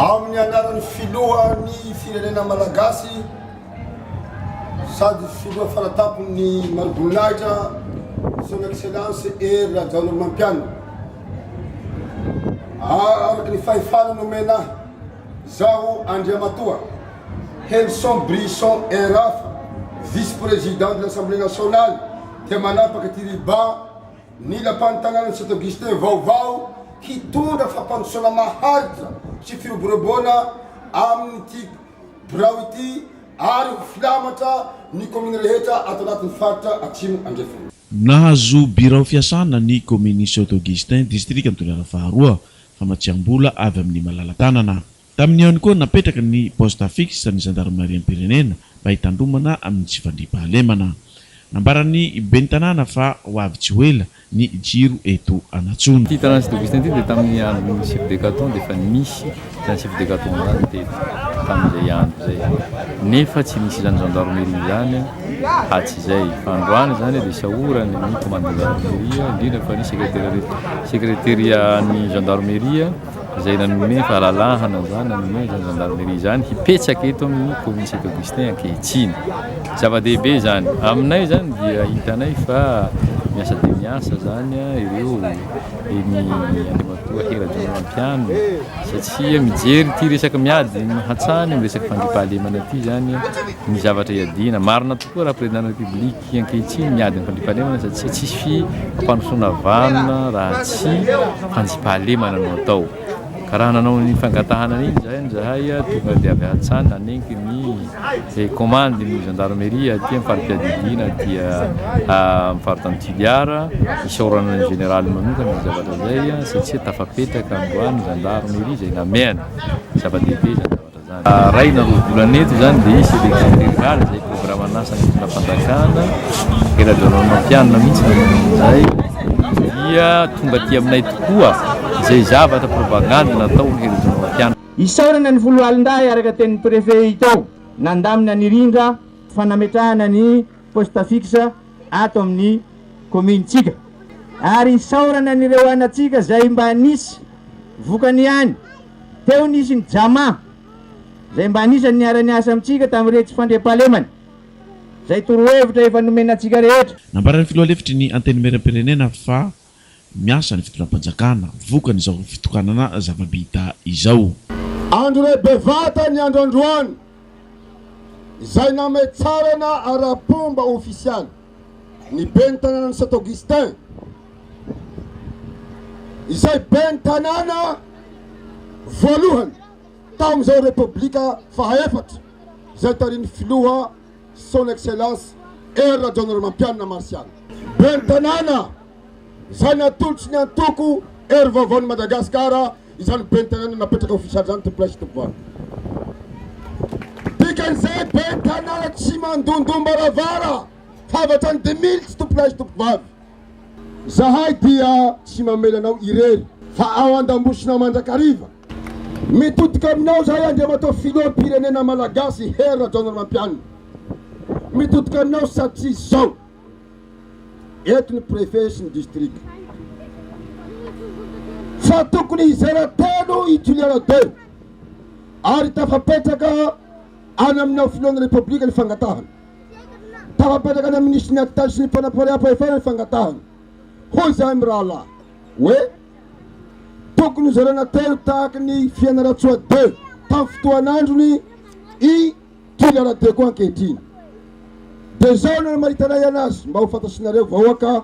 Amin'ny anaran'ny Filohan'ny Firenena Malagasy sady Filoha faratampon'ny Mariboninahitra, Son Excellence Hery Rajaonarimampianina. Araka ny fahefana nomena ahy, izaho Andriamatoa Henson Brisson RAF, Vice-Président de l'Assemblée nationale, dia manapaka ity riban, Ny Lapan'ny tanànan'i Saint Augustin vaovao hitondra fampandrosoana maharitra sy firoborobona amin'ity birao ity ary ho filamatra ny kaominy rehetra ato anatin'ny faritra Atsimo Andrefana. Nahazo birao fiasana ny kaominin'i Saint Augustin, distrikan'i Toliara faharoa, famatsiam-bola avy amin'ny malala-tanana. Tamin'ny eo ihany koa, napetraka ny poste fixe ny zandarimariam-pirenena mba hitandromana amin'ny tsy fandriampahalemana. Nambaran'ny ben'ny tanàna fa ho avy tsy ho ela ny jiro eto Anatsono. Ity tanàna tsy Douvista ity dia tamin'ny andron'ny chef de caton dia efa nisy izany chef de caton izany teto tamin'izay andro izay nefa tsy nisy izany gendarmerie izany atsy izay fa androany izany dia isaorany ny commandant gendarmerie indrindra fa ny secretaire secretaire an'ny gendarmerie izay nanome fahalalahana izany, nanome izany zandarimeria izany hipetraka eto amin'ny Commune Saint Augustin ankehitriny. Zava-dehibe izany. Aminay izany dia hitanay fa miasa dia miasa izany ireo eny Andriamatoa Hery Rajaonarimampianina satria mijery ity resaka miady hatrany amin'ny resaka fandriampahalemana ity izany ny zavatra iadiana. Marina tokoa raha Président de la République. Satria ankehitriny miady ny fandriampahalemana satria tsisy fampandrosoana vanona raha tsy fanjiam-pahalemana no atao. Ka raha nanao an'iny fangatahana an'iny izany izahay tonga dia avy hatsany nanenky ny izay komandy ny zandaromeria aty amin'ny fari-piadidiana aty amin'ny faritany Toliara isaorana ny Jeneraly manokana izay zavatra izay satria tafapetraka androany ny zandaromeria izay namehany. Zava-dehibe izany zavatra izany. Iray na roa volana eto izany dia hisy élection rurale izay programan'asan'ny fitondram-panjakana, eradionaonatianina mihitsy no manao an'izay, dia tonga aty aminay tokoa izay zavatra propagandy natao ny eradionaonatianina. Isaorana ny Foloalindahy araka tenin'ny Préfet Itao nandamina ny rindra fanametrahana ny poste fixe ato amin'ny kaominintsika ary isaorana an'ireo anantsika izay mba nisy vokany ihany. Teo nisy ny Jama izay mba anisan'ny niara-niasa amintsika tamin'iretsy fandriampahalemana izay torohevitra efa nomena antsika rehetra. Nambaran'ny filoha lefitry ny Antenimierampirenena fa miasa ny fitondram-panjakana vokan'izao fitokanana zava-bita izao. Andro iray bevata ny andro androany, izay nametrarana ara-pomba ofisialy ny ben'ny tanànan'i Saint Augustin, izay ben'ny tanàna voalohany tamin'izao Repoblika faha efatra izay tarihin'ny filoha Son Excellence Hery Rajaonarimampianina Martial. Ben'ny Tanàna, izay natolotry ny Antoko Hery Vaovaon'i Madagasikara, izany Ben'ny Tanàna napetraka ofisialy izany Tompon'Ahy sy Tompovalika. Dikan'izay Ben'ny Tanàna tsy mandondom-baravara fa avy hatrany dimilitsy Tompon'Ahy sy Tompovavy. Zahay dia tsy mamela anao irery. Fa ao andambosona mandrakariva. Mitodika aminao zahay Andriamatoa Filoham pirenena Malagasy Hery Rajaonarimampianina. Mitodika aminao satria zao. Eto ny Préfet sy ny District. Fa tokony hizara telo i Juliana Deo. Ary tafapetraka any aminao Filohan'ny Repoblika ny fangatahana. Tafapetraka any amin'ny Minisitry ny Atitazy sy ny Fanapoariaham-pahefana ny fangatahana. Hoy izany mirahalahy hoe tokony hozaraina telo tahaka ny Fianarantsoa deux tamin'ny fotoan'androny i Jules Radeko ankehitriny. Dia izao no namaritana ahy anazy mba ho fantatrinareo vahoaka.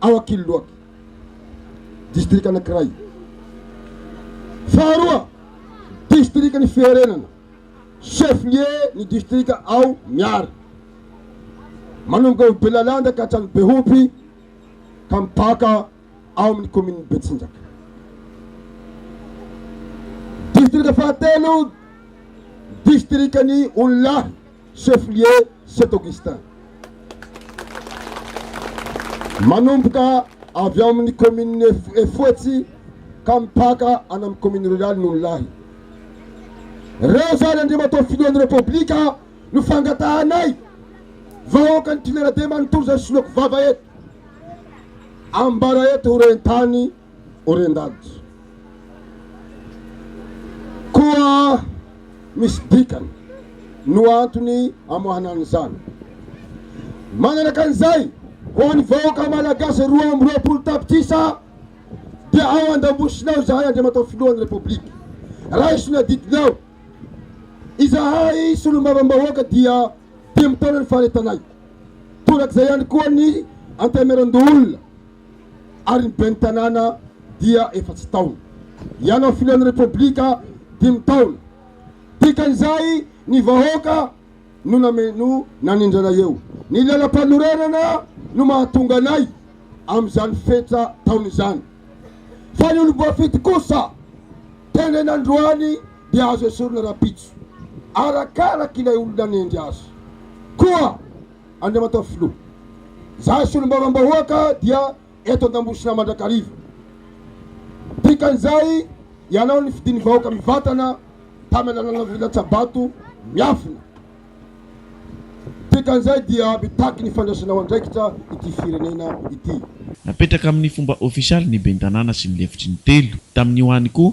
ao Ankiloak, distrika anankiray. Faharoa, distrikan' ny Fiherenana, chef-lieu ny distrika ao Miary. Manomboka ao Belalanda ka hatrany Behopy ka mipaka ao amin' ny kaominin'i Betsinjaka. Distrika fahatelo, distrikan' ny Onilahy. chef lieu Saint Augustin. Manomboka avy ao amin'ny kaominina Efotsy ka mipaka any amin'ny kaomina ruraly Nonolahy. Reo izany Andriamatoa Filohan'ny Repoblika no fangatahanay vahoakan'ny Toliara be manontolo izay soloako vava eto. Ambara eto ho rentany. Orendad. Koa misy dikany no antony amoahana an'izany. Manaraka an'izay, ho an'ny vahoaka Malagasy roa amby roapolo tapitrisa dia ao an-dambosinao izahay Andriamatoa Filohan'ny Repoblika. Raiso ny adidinao. Izahay Solombavambahoaka dia dimy taona ny faharetanay. Torak'izay ihany koa ny Antemierandoholona. ary ny ben'ny tanàna dia efatsy taona. Ianao filohan'ny Repoblika dimy taona. Dikan'izay ny vahoaka no name no nanindrana eo. Ny lalam-panorenana no mahatonga anay amin'izany fetra taona izany. Fa ny olom-boafidy kosa tendraina androany dia azo esorina rahampitso, arakaraka ilay olona hanendry azy. Koa. Andriamatoa Filoha, izahay Solombavambahoaka dia eto Antambosina mandrakariva. Dikan'izay, ianao nifidin'ny vahoaka mivantana tamin'ny alalan'ny lalan-tsabato miafina. Dikan'izay dia mitaky ny fandraisanao andraikitra ity firenena ity. Napetraka amin'ny fomba ofisialy ny Ben'ny Tanàna sy ny lefitry ny telo. Tamin'io any koa,